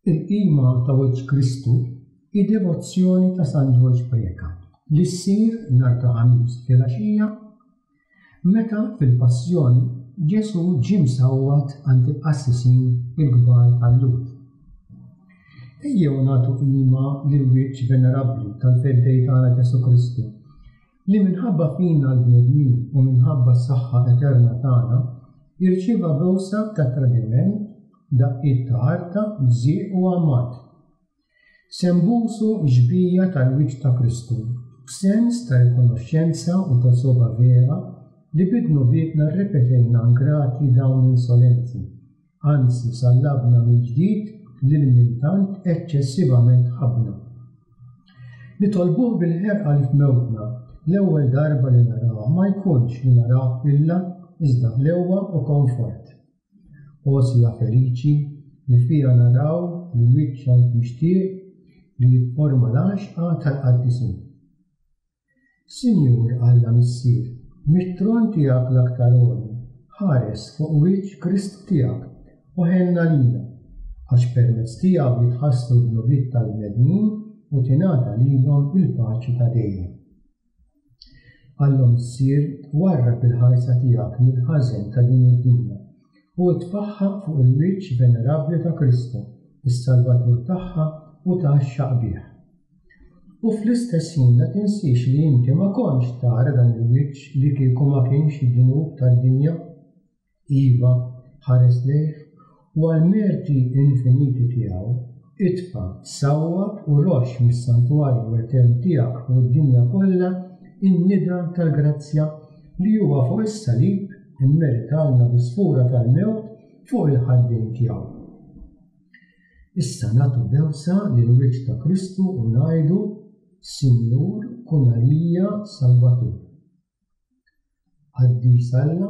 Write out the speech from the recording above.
Il-qima ta' wiċċ Kristu hi devozzjoni ta' San Ġorġ Preca li ssir nhar ta' Ħamis filgħaxija meta fil-Passjoni Ġesù ġie msawwat għand il-qassisin il-kbar tal-Lhud. Ejjew nagħtu qima lill-wiċċ venerabbli tal-Feddej tagħna Ġesù Kristu Li minħabba fina l-bnedmin u minħabba s-saħħa eterna tagħna, irċieva bewsa ta' tradiment, daqqiet ta' għarta, bżieq u għamad. Se nbusu x-xbija tal-wiċċ ta' Kristu, b'sens ta' rikonoxxenza u ta' sogħba vera li bi dnubietna rrepetejna ngrati dawn insolenti. anzi sallabna mill-ġdid lil min tant eċċessivament ħabbna. Nitolbuh bil-ħerqa li f'mewtna, l-ewwel darba li narawh ma jkunx li naraw ħwilla iżda ħlewwa u konfort. O siegħa feliċi li fiha naraw il-Wiċċ tant mixtieq li jifforma l-għaxqa tal-qaddisin! Sinjur Alla Missier, mit-tron tiegħek l-aktar għoli, ħares fuq wiċċ Krist tiegħek u ħenna lina, għax permezz tiegħu jitħassru d-dnubiet tal-bnedmin u tingħata lilhom il-paċi ta' dejjem. Alla Missier, warrab il-ħarsa tiegħek mill-ħażen ta' din id-dinja u tpaħħaq fuq il-wiċċ venerabbli ta' Kristu, is-Salvatur tagħha u ta' xaqbih. U fl-istess ħin la tinsiex li inti ma kontx tara dan il-wiċċ li kieku ma kienx id-dnub tad-dinja. Iva, ħares lejh, u għall-merti infiniti tiegħu, itfa', sawwab u roxx mis-santwarju etern tiegħek fuq id-dinja kollha n-nida tal-grazzja li huwa fuq is-salib immeritalna bi sfura tal-mewt fuq il-ħaddejn tiegħu. Issa nagħtu bewsa lill-Wied ta' Kristu u ngħidu, Sinjur, kun għalija Salvatur. Qaddis Alla,